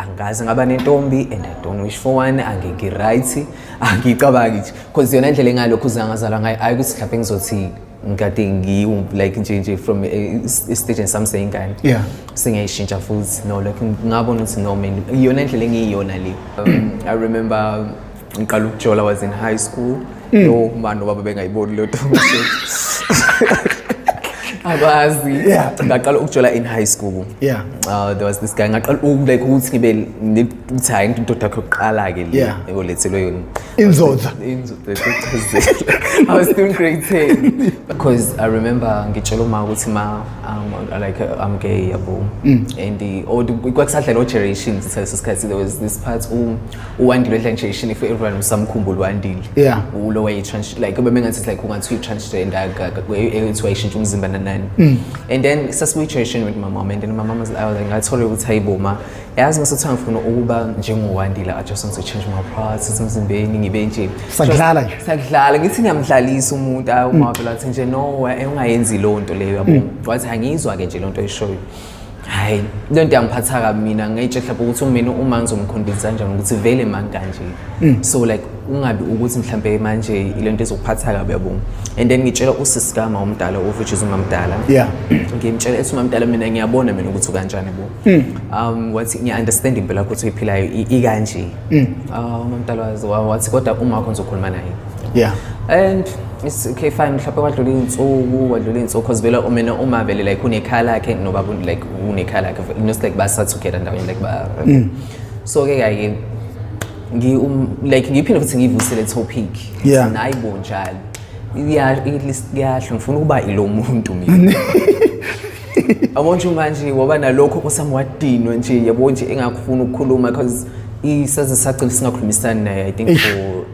angazi ngaba nentombi and i don't wish for one angeke right angicabangi nje cause yona indlela engalokhu uzangazalwa ngayo ayi ukuthi mhlawumbe ngizothi ngikade ngiwu like nje nje from istage sami seyingane yeah singayishintsha futhi no like ngabona ukuthi no man iyona indlela engiyiyona le um, i remember ngiqala ukujola was in high school mm. no mani nobaba bengayiboni leyo abazi yeah. ngaqala ukujola in high school yeah. uh, there was this guy ngaqala like ukuthi ngibe ukuthi hayi indoda yakho yokuqala-ke le yeah. eyolethelwe yona inzoda i was still grade 10 because i remember ngitshela uma ukuthi ma um, like i'm gay yabo mm. and kwakusadlala o-generations leso sikhathi there was this part um, uwandile edla nje ishini for everyone usamkhumbula uwandile yeah ulo way trans like ube mengathi like ungathi transgender ethi wayishintsha umzimba nanani mm. and then sasibuyi generation with my mom and then my mom was like oh, ngathola ukuthi hayibo ma yazi ngasothi ngifuna ukuba njengowandile i just want to change my parts emzimbeni ngibe nje sakudlala nje sakudlala ngithi ngiyamdlalisa umuntu awu mm. mavela athi nje no eh, ungayenzi lonto leyo yabo mm. wathi angiyizwa ke nje lonto eshoyo hayi le nto yangiphatha kabi mina ngayitshe mhlawumbe ukuthi umina uma ngizomkhombisa kanjani ukuthi vele mani kanje mm. so like ungabi ukuthi mhlawumbe manje ile nto ezokuphatha kabi yabonga and then ngitshela usisi kama omdala of which is umamdala yeah ngimtshela ethi umamdala mina ngiyabona mina ukuthi ukanjani bo mm. um wathi ngiya-understand impilo yakho ukuthi uyiphilayo ikanje mm. ah, umamdala wathi kodwa umakho ngizokhuluma naye yeah and it's okay fine mhlawumbe wadlula iy'nsuku wadlula iy'nsuku because vele umena uma vele like unekhaya lakhe noba like unekhaya lakhe just like basathukela ndawonye like ba mm. so ke kake ngi um, like ngiphinde futhi ngivuse le topic yeah. nayi bonjalo kuyasho ngifuna ukuba ilo muntu mina yabo nje manje waba nalokho kusami wadinwe nje yabo nje engakufuna ukukhuluma because isaze sagcina singakhulumisani naye i think for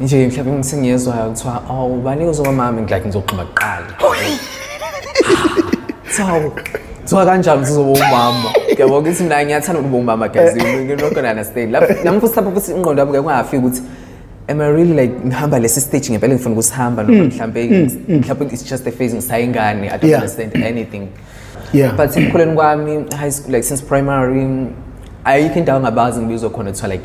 nje mhlawumbe ngisengiyezwayo kuthiwa awu ubani uzoba mami ngilike ngizogqiba kuqala so kuthiwa kanjani uzoba umama yabo ukuthi mina ngiyathanda ukuba umama guys you're not gonna understand Lapho- nami futhi lapho futhi ingqondo yami kungafiki ukuthi am i really like ngihamba lesi stage ngempela ngifuna ukusihamba noma mhlawumbe mhlawumbe it's just a phase ngisayingane i don't Yeah. understand anything Yeah. but ekukhuleni kwami high school like since primary ayikho indawo ngabazi ngibizwa khona kuthiwa like